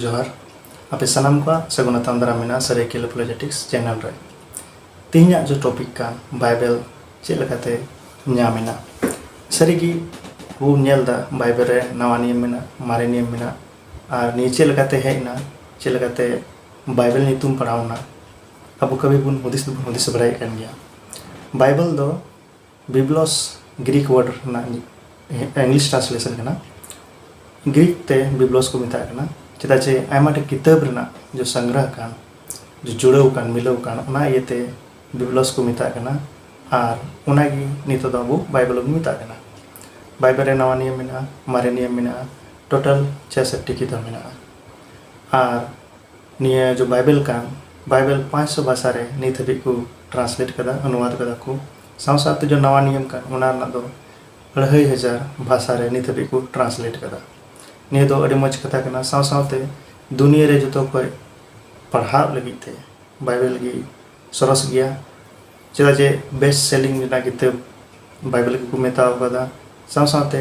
ᱡᱚᱦᱟᱨ ᱟᱯᱮ ᱥᱟᱱᱟᱢ ᱠᱚᱣᱟᱜ ᱥᱟᱹᱜᱩᱱ ᱟᱛᱟᱝ ᱫᱟᱨᱟᱢ ᱢᱮᱱᱟᱜᱼᱟ ᱥᱟᱹᱨᱟᱹᱭᱠᱮᱞᱟ ᱯᱚᱞᱤᱴᱤᱠᱥ ᱪᱮᱱᱮᱞ ᱨᱮ ᱛᱮᱦᱮᱧᱟᱜ ᱡᱮ ᱴᱚᱯᱤᱠ ᱠᱟᱱ ᱵᱟᱭᱵᱮᱞ ᱪᱮᱫ ᱞᱮᱠᱟᱛᱮ ᱧᱟᱢ ᱮᱱᱟ ᱥᱟᱹᱨᱤᱜᱮ ᱵᱚ ᱧᱮᱞ ᱮᱫᱟ ᱵᱟᱭᱵᱮᱞ ᱨᱮ ᱱᱟᱣᱟ ᱱᱤᱭᱚᱢ ᱢᱮᱱᱟᱜᱼᱟ ᱢᱟᱨᱮ ᱱᱤᱭᱚᱢ ᱢᱮᱱᱟᱜᱼᱟ ᱟᱨ ᱱᱤᱭᱟᱹ ᱪᱮᱫ ᱞᱮᱠᱟᱛᱮ ᱦᱮᱡ ᱮᱱᱟ ᱪᱮᱫ ᱞᱮᱠᱟᱛᱮ ᱵᱟᱭᱵᱮᱞ ᱧᱩᱛᱩᱢ ᱯᱟᱲᱟᱣ ᱮᱱᱟ ᱟᱵᱚ ᱠᱟᱹᱢᱤ ᱵᱚᱱ ᱦᱩᱫᱤᱥ ᱫᱚᱵᱚᱱ ᱦᱩᱫᱤᱥ ᱵᱟᱲᱟᱭᱮᱫ ᱠᱟᱱ ᱜᱮᱭᱟ ᱵᱟᱭᱵᱮᱞ ᱫᱚ ᱵᱤᱵᱞᱚᱥ ᱜᱨᱤᱠ ᱣᱟᱨᱰ ᱨᱮᱱᱟᱜ ᱤᱝᱞᱤᱥ ᱴᱨᱟᱱᱥᱞᱮᱥᱚᱱ ᱠᱟᱱᱟ ᱜᱨᱤᱠ ᱛᱮ ᱵᱤᱵᱞᱚᱥ ᱠᱚ ᱢᱮᱛᱟᱜ ᱠᱟᱱᱟ ᱪᱮᱫᱟᱜ ᱪᱮ ᱟᱭᱢᱟ ᱴᱷᱮᱱ ᱠᱤᱛᱟᱹᱵ ᱨᱮᱱᱟᱜ ᱡᱚ ᱥᱚᱝᱜᱨᱚᱦ ᱠᱟᱱ ᱡᱚ ᱡᱩᱲᱟᱹᱣ ᱠᱟᱱ ᱢᱤᱞᱟᱹᱣ ᱠᱟᱱ ᱚᱱᱟ ᱤᱭᱟᱹᱛᱮ ᱵᱤᱵᱞᱚᱥ ᱠᱚ ᱢᱮᱛᱟᱜ ᱠᱟᱱᱟ ᱟᱨ ᱚᱱᱟᱜᱮ ᱱᱤᱛᱚᱜ ᱫᱚ ᱟᱵᱚ ᱵᱟᱭᱵᱮᱞ ᱵᱚᱱ ᱢᱮᱛᱟᱜ ᱠᱟᱱᱟ ᱵᱟᱭᱵᱮᱞ ᱨᱮ ᱱᱟᱣᱟ ᱱᱤᱭᱚᱢ ᱢᱮᱱᱟᱜᱼᱟ ᱢᱟᱨᱮ ᱱᱤᱭᱚᱢ ᱢᱮᱱᱟᱜᱼᱟ ᱴᱳᱴᱟᱞ ᱪᱷᱮᱥᱚᱴᱴᱤ ᱠᱤᱛᱟᱹᱵ ᱢᱮᱱᱟᱜᱼᱟ ᱟᱨ ᱱᱤᱭᱟᱹ ᱡᱚ ᱵᱟᱭᱵᱮᱞ ᱠᱟᱱ ᱵᱟᱭᱵᱮᱞ ᱯᱟᱸᱪ ᱥᱚ ᱵᱷᱟᱥᱟ ᱨᱮ ᱱᱤᱛ ᱦᱟᱹᱵᱤᱡ ᱠᱚ ᱴᱨᱟᱱᱥᱞᱮᱴ ᱟᱠᱟᱫᱟ ᱚᱱᱩᱣᱟᱫᱽ ᱟᱠᱟᱫᱟ ᱠᱚ ᱥᱟᱶ ᱥᱟᱶᱛᱮ ᱡᱚ ᱱᱟᱣᱟ ᱱᱤᱭᱚᱢ ᱠᱟᱱ ᱚᱱᱟ ᱨᱮᱱᱟᱜ ᱫᱚ ᱟᱹᱲᱦᱟᱹᱭ ᱦᱟᱡᱟᱨ ᱵᱷᱟᱥᱟ ᱨᱮ ᱱᱤᱛ ᱦᱟᱹᱵᱤᱡ ᱠᱚ ᱴᱨᱟᱱᱥᱞᱮᱴ ᱟᱠᱟᱫᱟ ᱱᱤᱭᱟᱹ ᱫᱚ ᱟᱹᱰᱤ ᱢᱚᱡᱽ ᱠᱟᱛᱷᱟ ᱠᱟᱱᱟ ᱥᱟᱶ ᱥᱟᱶᱛᱮ ᱫᱩᱱᱤᱭᱟᱹ ᱨᱮ ᱡᱚᱛᱚ ᱠᱷᱚᱡ ᱯᱟᱲᱦᱟᱜ ᱞᱟᱹᱜᱤᱫ ᱛᱮ ᱵᱟᱭᱵᱮᱞ ᱜᱮ ᱥᱚᱨᱚᱥ ᱜᱮᱭᱟ ᱪᱮᱫᱟᱜ ᱡᱮ ᱵᱮᱥᱴ ᱥᱮᱞᱤᱝ ᱨᱮᱱᱟᱜ ᱠᱤᱛᱟᱹᱵ ᱵᱟᱭᱵᱮᱞ ᱜᱮᱠᱚ ᱢᱮᱛᱟᱣ ᱟᱠᱟᱫᱟ ᱥᱟᱶ ᱥᱟᱶᱛᱮ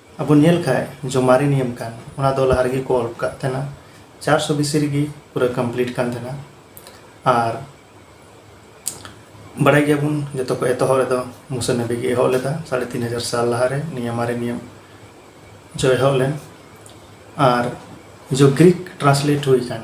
ᱟᱵᱚ ᱧᱮᱞ ᱠᱷᱟᱡ ᱡᱚ ᱢᱟᱨᱮ ᱱᱤᱭᱚᱢ ᱠᱟᱱ ᱚᱱᱟ ᱫᱚ ᱞᱟᱦᱟ ᱨᱮᱜᱮ ᱠᱚ ᱚᱞ ᱠᱟᱜ ᱛᱟᱦᱮᱱᱟ ᱪᱟᱨᱥᱚ ᱵᱤᱥᱤ ᱨᱮᱜᱮ ᱯᱩᱨᱟᱹ ᱠᱚᱢᱯᱞᱤᱴ ᱠᱟᱱ ᱛᱟᱦᱮᱱᱟ ᱟᱨ ᱵᱟᱲᱟᱭ ᱜᱮᱭᱟᱵᱚᱱ ᱡᱚᱛᱚ ᱠᱚ ᱮᱛᱚᱦᱚᱵ ᱨᱮᱫᱚ ᱢᱩᱥᱟ ᱱᱟᱵᱤ ᱜᱮ ᱮᱦᱚᱵ ᱞᱮᱫᱟ ᱥᱟᱲᱮ ᱛᱤᱱ ᱦᱟᱡᱟᱨ ᱥᱟᱞ ᱞᱟᱦᱟᱨᱮ ᱱᱤᱭᱟᱹ ᱢᱟᱨᱮ ᱱᱤᱭᱚᱢ ᱡᱚ ᱮᱦᱚᱵ ᱞᱮᱱ ᱟᱨ ᱡᱚ ᱜᱨᱤᱠ ᱴᱨᱟᱱᱥᱞᱮᱴ ᱦᱩᱭ ᱠᱟᱱ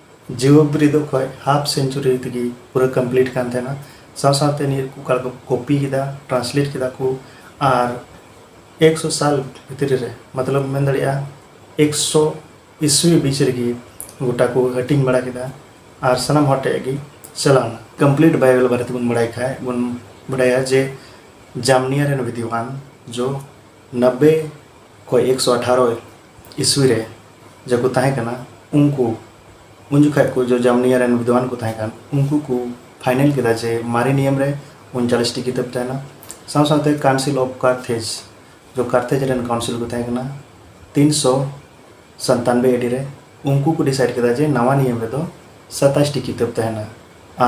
ᱡᱤᱣᱟᱹ ᱵᱤᱨᱤᱫᱚᱜ ᱠᱷᱚᱡ ᱦᱟᱯᱷ ᱥᱮᱱᱪᱩᱨᱤ ᱛᱮᱜᱮ ᱯᱩᱨᱟᱹ ᱠᱚᱢᱯᱞᱤᱴ ᱠᱟᱱ ᱛᱟᱦᱮᱱᱟ ᱥᱟᱶ ᱥᱟᱶᱛᱮ ᱱᱤᱭᱟᱹ ᱨᱮᱠᱚ ᱚᱠᱟ ᱞᱮᱠᱟ ᱠᱚ ᱠᱚᱯᱤ ᱠᱮᱫᱟ ᱴᱨᱟᱱᱥᱞᱮᱴ ᱠᱮᱫᱟ ᱠᱚ ᱟᱨ ᱮᱠᱥᱚ ᱥᱟᱞ ᱵᱷᱤᱛᱨᱤ ᱨᱮ ᱢᱚᱛᱞᱚᱵ ᱢᱮᱱ ᱫᱟᱲᱮᱭᱟᱜᱼᱟ ᱮᱠᱥᱚ ᱤᱥᱩᱭ ᱵᱤᱪ ᱨᱮᱜᱮ ᱜᱚᱴᱟ ᱠᱚ ᱦᱟᱹᱴᱤᱧ ᱵᱟᱲᱟ ᱠᱮᱫᱟ ᱟᱨ ᱥᱟᱱᱟᱢ ᱦᱚᱲ ᱴᱷᱮᱡ ᱜᱮ ᱪᱟᱞᱟᱣᱱᱟ ᱠᱚᱢᱯᱞᱤᱴ ᱵᱟᱭᱵᱮᱞ ᱵᱟᱨᱮ ᱛᱮᱵᱚᱱ ᱵᱟᱲᱟᱭ ᱠᱷᱟᱡ ᱵᱚᱱ ᱵᱟᱰᱟᱭᱟ ᱡᱮ ᱡᱟᱢᱱᱤᱭᱟ ᱨᱮᱱ ᱵᱤᱫᱽᱣᱟᱱ ᱡᱚ ᱱᱟᱵᱵᱮ ᱠᱷᱚᱡ ᱮᱠᱥᱚ ᱟᱴᱷᱟᱨᱚ ᱤᱥᱣᱤ ᱨᱮ ᱡᱟᱠᱚ ᱛᱟᱦᱮᱸ ᱠᱟᱱᱟ ᱩᱱᱠᱩ ᱩᱱ ᱡᱚᱠᱷᱟᱡ ᱠᱚ ᱡᱚ ᱡᱟᱢᱱᱤᱭᱟ ᱨᱮᱱ ᱵᱤᱫᱽᱣᱟᱱ ᱠᱚ ᱛᱟᱦᱮᱸ ᱠᱟᱱ ᱩᱱᱠᱩ ᱠᱚ ᱯᱷᱟᱭᱱᱮᱞ ᱠᱮᱫᱟ ᱡᱮ ᱢᱟᱨᱮ ᱱᱤᱭᱚᱢ ᱨᱮ ᱩᱱᱪᱟᱞᱤᱥ ᱴᱤ ᱠᱤᱛᱟᱹᱵ ᱛᱟᱦᱮᱱᱟ ᱥᱟᱶ ᱥᱟᱶᱛᱮ ᱠᱟᱣᱩᱱᱥᱤᱞ ᱚᱯᱷ ᱠᱟᱨᱛᱷᱮᱡᱽ ᱡᱚ ᱠᱟᱨᱛᱷᱮᱡᱽ ᱨᱮᱱ ᱠᱟᱣᱩᱱᱥᱤᱞ ᱠᱚ ᱛᱟᱦᱮᱸ ᱠᱟᱱᱟ ᱛᱤᱱ ᱥᱚ ᱥᱟᱱᱛᱟᱱᱵᱮ ᱮᱰᱤ ᱨᱮ ᱩᱱᱠᱩ ᱠᱚ ᱰᱤᱥᱟᱭᱤᱰ ᱠᱮᱫᱟ ᱡᱮ ᱱᱟᱣᱟ ᱱᱤᱭᱚᱢ ᱨᱮᱫᱚ ᱥᱟᱛᱟᱥ ᱴᱤ ᱠᱤᱛᱟᱹᱵ ᱛᱟᱦᱮᱱᱟ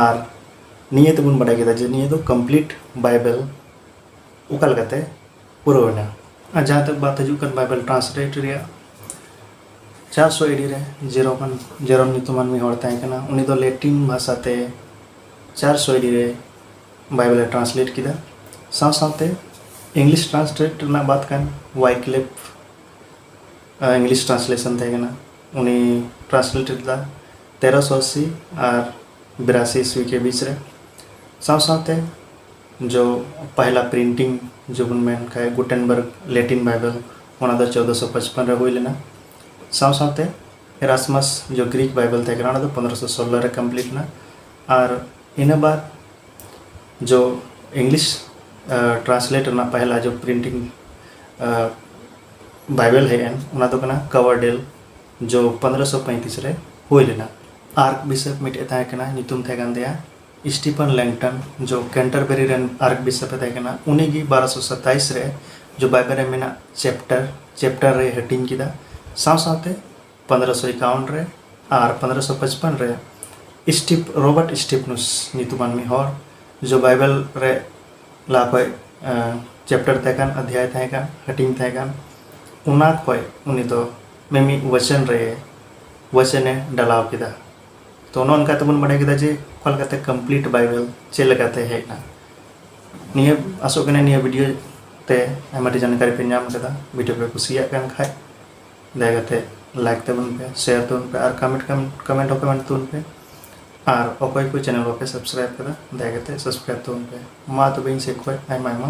ᱟᱨ ᱱᱤᱭᱟᱹ ᱛᱮᱵᱚᱱ ᱵᱟᱰᱟᱭ ᱠᱮᱫᱟ ᱡᱮ ᱱᱤᱭᱟᱹ ᱫᱚ ᱠᱚᱢᱯᱞᱤᱴ ᱵᱟᱭᱵᱮᱞ ᱚᱠᱟ ᱞᱮᱠᱟᱛᱮ ᱯᱩᱨᱟᱹᱣ ᱮᱱᱟ ᱟᱨ ᱡᱟᱦᱟᱸ ᱛᱮ ᱵᱟᱛ ᱦᱤᱡᱩᱜ ᱠᱟᱱ ᱵᱟᱭᱵᱮᱞ ᱴᱨᱟᱱᱥᱞᱮᱴ ᱨᱮᱭᱟᱜ ᱪᱟᱨᱥᱚ ᱮᱰᱤ ᱨᱮ ᱡᱮᱨᱚᱢ ᱡᱮᱨᱚᱢ ᱧᱩᱛᱩᱢᱟᱱ ᱢᱤᱫ ᱦᱚᱲ ᱛᱟᱦᱮᱸ ᱠᱟᱱᱟ ᱩᱱᱤ ᱫᱚ ᱞᱮᱴᱤᱱ ᱵᱷᱟᱥᱟ ᱛᱮ ᱪᱟᱨᱥᱚ ᱮᱰᱤ ᱨᱮ ᱵᱟᱭᱵᱮᱞ ᱮ ᱴᱨᱟᱱᱥᱞᱮᱴ ᱠᱮᱫᱟ ᱥᱟᱶ ᱥᱟᱶᱛᱮ ᱤᱝᱞᱤᱥ ᱴᱨᱟᱱᱥᱞᱮᱴ ᱨᱮᱱᱟᱜ ᱵᱟᱛ ᱠᱟᱱ ᱣᱟᱭᱠᱞᱮᱯ ᱤᱝᱞᱤᱥ ᱴᱨᱟᱱᱥᱞᱮᱥᱚᱱ ᱛᱟᱦᱮᱸ ᱠᱟᱱᱟ ᱩᱱᱤ ᱴᱨᱟᱱᱥᱞᱮᱴ ᱞᱮᱫᱟ ᱛᱮᱨᱚᱥᱚ ᱟᱥᱤ ᱟᱨ ᱵᱤᱨᱟᱥᱤ ᱤᱥᱣᱤ ᱠᱮ ᱵᱤᱪ ᱨᱮ ᱥᱟᱶ ᱥᱟᱶᱛᱮ ᱡᱚ ᱯᱟᱦᱞᱟ ᱯᱨᱤᱱᱴᱤᱝ ᱡᱚ ᱵᱚᱱ ᱢᱮᱱ ᱠᱷᱟᱡ ᱜᱩᱴᱮᱱᱵᱟᱨᱜᱽ ᱞᱮᱴᱤᱱ ᱵᱟᱭᱵᱮᱞ ᱚᱱᱟ ᱫᱚ ᱪᱳᱫᱽᱫᱳ ᱥᱚ ᱯᱟᱸᱪᱯᱚᱱ ᱨᱮ ᱦᱩᱭ ᱞᱮᱱᱟ ᱥᱟᱶ ᱥᱟᱶᱛᱮ ᱮᱨᱟᱥᱢᱟᱥ ᱡᱚ ᱜᱨᱤᱠ ᱵᱟᱭᱵᱮᱞ ᱛᱟᱦᱮᱸ ᱠᱟᱱᱟ ᱚᱱᱟ ᱫᱚ ᱯᱚᱱᱨᱚ ᱥᱚ ᱥᱳᱞᱞᱳ ᱨᱮ ᱠᱚᱢᱯᱞᱤᱴ ᱮᱱᱟ ᱟᱨ ᱤᱱᱟᱹ ᱵᱟᱫ ᱡᱚ ᱤᱝᱞᱤᱥ ᱴᱨᱟᱱᱥᱞᱮᱴ ᱨᱮᱱᱟᱜ ᱯᱟᱦᱞᱟ ᱡᱚ ᱯᱨᱤᱱᱴᱤᱝ ᱵᱟᱭᱵᱮᱞ ᱦᱮᱡ ᱮᱱ ᱚᱱᱟ ᱫᱚ ᱠᱟᱱᱟ ᱠᱟᱣᱟᱨᱰᱮᱞ ᱡᱚ ᱯᱚᱱᱨᱚ ᱥᱚ ᱯᱚᱸᱭᱛᱨᱤᱥ ᱨᱮ ᱦᱩᱭ ᱞᱮᱱᱟ ᱟᱨ ᱵᱤᱥᱚᱯ ᱢᱤᱫᱴᱮᱡ ᱛᱟᱦᱮᱸ ᱠᱟᱱᱟ ᱧᱩᱛᱩᱢ ᱛᱟᱦᱮᱸ ᱠᱟᱱ ᱛᱟᱭᱟ ᱥᱴᱤᱯᱷᱮᱱ ᱞᱮᱝᱴᱚᱱ ᱡᱚ ᱠᱮᱱᱴᱟᱨᱵᱮᱨᱤ ᱨᱮᱱ ᱟᱨᱠᱵᱤᱥᱚᱯ ᱮ ᱛᱟᱦᱮᱸ ᱠᱟᱱᱟ ᱩᱱᱤ ᱜᱮ ᱵᱟᱨᱚᱥᱚ ᱥᱟᱛᱟᱭᱤᱥ ᱨᱮ ᱡᱚ ᱵᱟᱭᱵᱮᱞ ᱨᱮ ᱢᱮᱱᱟᱜ ᱪᱮᱯᱴᱟᱨ ᱪᱮᱯᱴᱟᱨ ᱨᱮ ᱦᱟᱹᱴᱤᱧ ᱠᱮᱫᱟ ᱥᱟᱶ ᱥᱟᱶᱛᱮ ᱯᱚᱱᱨᱚᱥᱚ ᱮᱠᱟᱣᱚᱱ ᱨᱮ ᱟᱨ ᱯᱚᱱᱨᱚᱥᱚ ᱯᱚᱪᱯᱚᱱ ᱨᱮ ᱥᱴᱤᱯ ᱨᱚᱵᱟᱨᱴ ᱥᱴᱤᱯᱱᱩᱥ ᱧᱩᱛᱩᱢᱟᱱ ᱢᱤᱫ ᱦᱚᱲ ᱡᱚ ᱵᱟᱭᱵᱮᱞ ᱨᱮ ᱞᱟᱦᱟ ᱠᱷᱚᱡ ᱪᱮᱯᱴᱟᱨ ᱛᱟᱦᱮᱸ ᱠᱟᱱ ᱚᱫᱷᱭᱟᱭ ᱛᱟᱦᱮᱸ ᱠᱟᱱ ᱦᱟᱹᱴᱤᱧ ᱛᱟᱦᱮᱸ ᱠᱟᱱ ᱚᱱᱟ ᱠᱷᱚᱡ ᱩᱱᱤ ᱫᱚ ᱢᱤᱢᱤᱫ ᱵᱚᱪᱚᱱ ᱨᱮ ᱵᱚᱪᱚᱱᱮ ᱰᱟᱞᱟᱣ ᱠᱮᱫᱟ ᱛᱚ ᱱᱚᱜᱼᱚ ᱱᱚᱝᱠᱟ ᱛᱮᱵᱚᱱ ᱵᱟᱰᱟᱭ ᱠᱮᱫᱟ ᱡᱮ ᱚᱠᱟ ᱞᱮᱠᱟᱛᱮ ᱠᱚᱢᱯᱞᱤᱴ ᱵᱟᱭᱵᱮᱞ ᱪᱮᱫ ᱞᱮᱠᱟᱛᱮ ᱦᱮᱡ ᱮᱱᱟ ᱱᱤᱭᱟᱹ ᱟᱥᱚᱜ ᱠᱟᱱᱟ ᱱᱤᱭᱟᱹ ᱵᱷᱤᱰᱤᱭᱳ ᱛᱮ ᱟᱭᱢᱟ ᱰᱷᱮᱨ ᱡᱟᱱᱠᱟᱨᱤ ᱯᱮ ᱧᱟᱢ ᱠᱮᱫᱟ ᱵᱷᱤᱰᱤᱭᱳ ᱯᱮ ᱠᱩᱥᱤᱭᱟᱜ ᱠᱟᱱ ᱠᱷᱟᱡ ᱫᱟᱭᱟ ᱠᱟᱛᱮ ᱞᱟᱭᱤᱠ ᱛᱟᱵᱚᱱ ᱯᱮ ᱥᱮᱭᱟᱨ ᱛᱟᱵᱚᱱ ᱯᱮ ᱟᱨ ᱠᱚᱢᱮᱱᱴ ᱠᱚᱢᱮᱱᱴ ᱦᱚᱸ ᱠᱚᱢᱮᱱᱴ ᱛᱟᱵᱚᱱ ᱯᱮ ᱟᱨ ᱚᱠᱚᱭ ᱠᱚ ᱪᱮᱱᱮᱞ ᱵᱟᱯᱮ ᱥᱟᱵᱥᱠᱨᱟᱭᱤᱵ ᱠᱟᱫᱟ ᱫᱟᱭᱟ ᱠᱟᱛᱮ ᱥᱟᱵᱥᱠᱨᱟᱭᱤᱵ ᱛᱟᱵᱚᱱ ᱯᱮ ᱢᱟ ᱛᱚᱵᱮ ᱤᱧ ᱥᱮᱫ ᱠᱷᱚᱡ ᱟᱭᱢᱟ ᱟᱭᱢᱟ